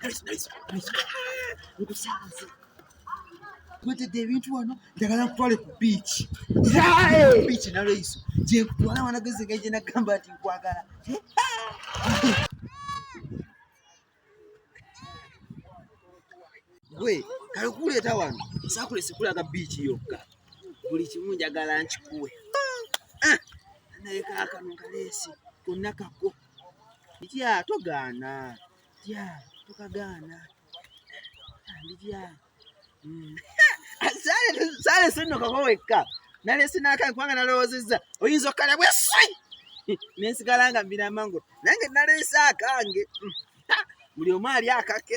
Nice, nice, nice. Nkusanze. Twetedde ebintu wano njagala nkutwale ku biiki. Biiki na Reiso. Gye nkutwala wanagezi nga gye nagamba nti nkwagala. Gwe kale kuleeta wano saakule sikulaga biiki yokka. Buli kimu njagala nkikuwe. Ah! Naye kaakano kaleesi konna kakko. nditya togaana tya tokagaana nditya hmm. sale sinokako wekka nalesi nakae kubanga nalowoozezza oyinza okukala bweswi nensigala nga mbira amangu nange nalesi akange hmm. buli omu ali akake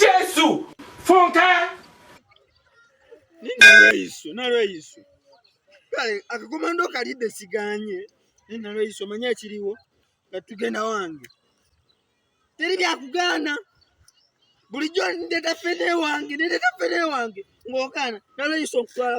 Jesu funka ninalweyiso nalweyiso kale akakomando kalidde siganye ninalweyiso manya ekiriwo nga tugenda wange teri byakugaana bulijjo ndeta fene wange ndeta fene wange ng'ogaana nalweyiso nkutwala